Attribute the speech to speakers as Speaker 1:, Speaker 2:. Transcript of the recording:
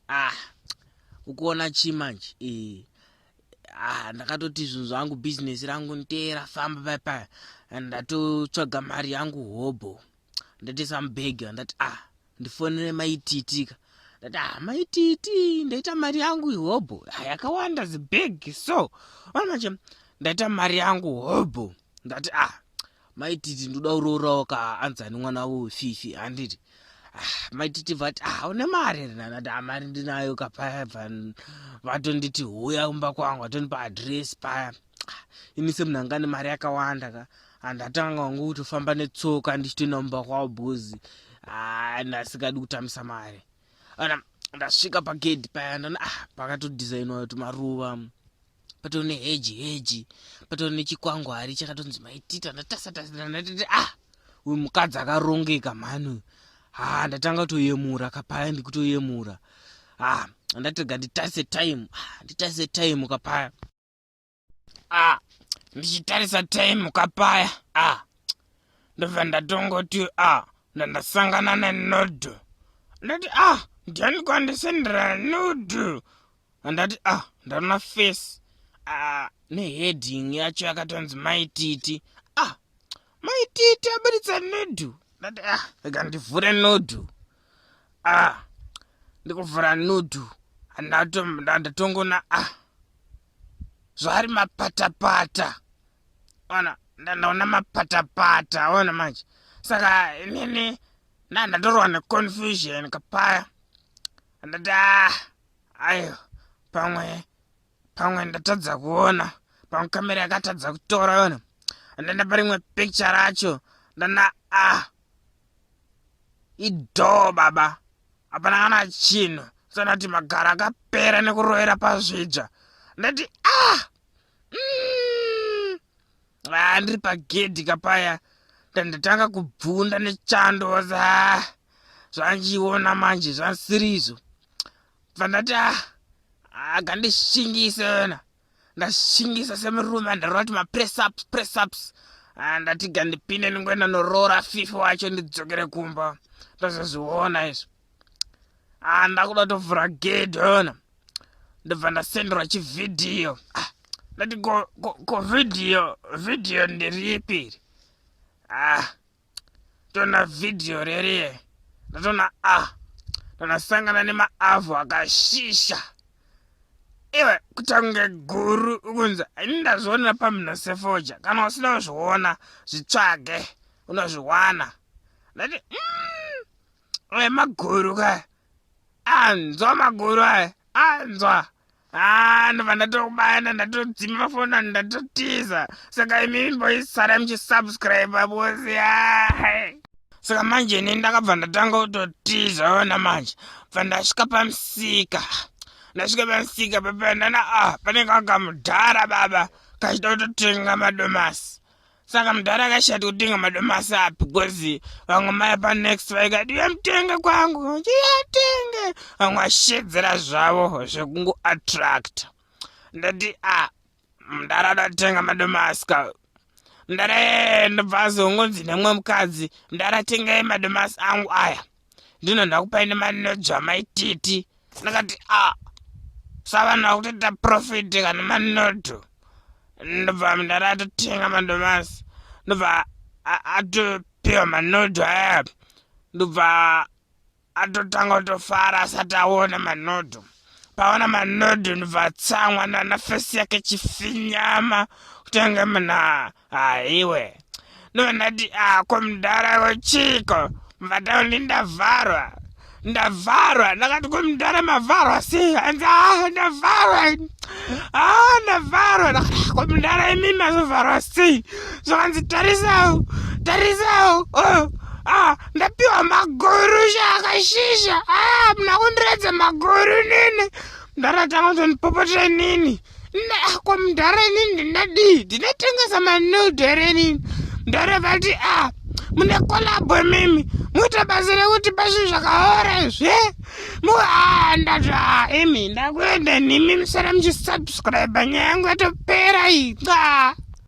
Speaker 1: ah ukuona chi manje eh ah ndakatoti zvinhu zvangu business rangu nteera famba paya paya and ndatotsvaga mari yangu hobho ndatoisa mubhegi ndati ah ndifonere maitiitika ndati ah maitiiti ndaita mari yangu ihobho ah, yakawanda zibhegi so ona manje ndaita mari yangu hobho oh, ndati ah maititi ndoda uroorawo ka anzani mwana wavo fifi handiti ah, maititi vati ah une mari here nandati ah, mari ndinayo ka paya vatonditi huya kumba kwangu vatondipa adress paya ah, ini semunhu anga nemari yakawanda ka handatanga wangu kutofamba netsoka ndichitoenda kumba kwavo bhozi ah, ndasikadi kutambisa mari ana ndasvika pagedhi paya ndana ah pakatodhizainwa tumaruva patori neheji heji patori nechikwangwari chakatonzi maitita ndatasatasati ah uyu mukadzi akarongeka mhani uyu haa ah, ndatanga kutoyemura kapaya ndikutoyemura haa ah, ndatega nditarise time ah, nditarise time kapaya ah ndichitarisa time kapaya ah ndobva ndatongoti ah ndandasangana nenodhu ndati ah ndiani kwandisenderana nodhu handati ah ndarona face ah neheading yacho yakatonzi maititi ah maititi aburitsa nodu ndati ah rega ndivhure nodu ah ndikuvhura nodu handatongoona ah zvaari mapatapata ona ndandaona mapatapata ona manje saka inini ndandatorwa neconfusion kapaya handati ah Ayo, pamwe, pamwe ndatadza kuona. Pamwe kamera yakatadza kutora yona. Ndenda parimwe picture racho. Ndana, ah. Idoo baba. Hapana kana chinhu. Sanati magara akapera nekurovera pazvidzva. Ndati, ah. Mm. Ah, ndiri pagedhi kapaya. Ndatanga kubvunda nechando. Ah. zvandiona manje zvandisirizvo pandati ah, akandishingisa yona ndashingisa semurume andarova kuti mapressups pressups ah, ndati gandipinde ndingoenda noroora fifi wacho ndidzokere kumba ndozozviona izvo ah, ndakuda kutovhura gedhi yona ndobva ndasenderwa chivhidhiyo ah, ndati ko vhidhiyo vhidhiyo ndiriipiri ah tona video rerie ndatona ah ndakasangana nemaavhu akashisha iwe kutange guru ukunzi ini ndazvionera pamhino sefoja kana usina kuzviona zvitsvage unozviwana ndati mm, maguru ka anzwa maguru aya anzwa haa ndobva ndatokubana ndatodzima mafoni anhu ndatotiza saka imi imboisara muchisubscribe bosi haa saka manje ini ndakabva ndatanga kutotiza ona manje bva ndasvika pamusika ndasvika pamusika papanana a ah, panenge akamudhara baba kachida kutotenga madomasi saka mudhara akashati kutenga madomasi api bcoz vamwe maya panext vaikati uyamutenga kwangu uyatenga vamwe ashedzera zvavo zvekungoattracta ndati a ah, mudhara adatenga madomasi ka mudhara yee ndobva azongonzi nemwe mukadzi mudhara tengai madomasi angu aya ndino ndakupai nemanodzo amaititi ndakati a ah, savanhu vakutoita profiti kana manoto ndobva mdara atotenga mandomasi ndobva atopiwa manoto aya ndobva atotanga kutofara asati aona manoto paona manoto ndobva atsamwa nana fesi yake chifinyama kutenge mnaa haiwe ndonati ako mudhara wochiiko mvataundi ndavharwa ndavharwa ndakati kumudhara mavharwa sei hanzi a ah, ndavharwa a ah, ndavharwa kumudhara imi mazovharwa sei zvakanzi tarisawo tarisawo oh. Ah, ndapiwa maguru shaka shisha ah, muna kundiredza maguru nini mdhara atanga kuzondipopotera inini ko mdhara inini ndinadii ndinotengesa manude here inini mdhara vati a ah, mune kolabo imimi muita basa rekuti pazvinhu zvakaora izve muhaa ndati a ah, imi ndakuenda nimi musara muchisubscribe nyaya yangu yatopera iyi qa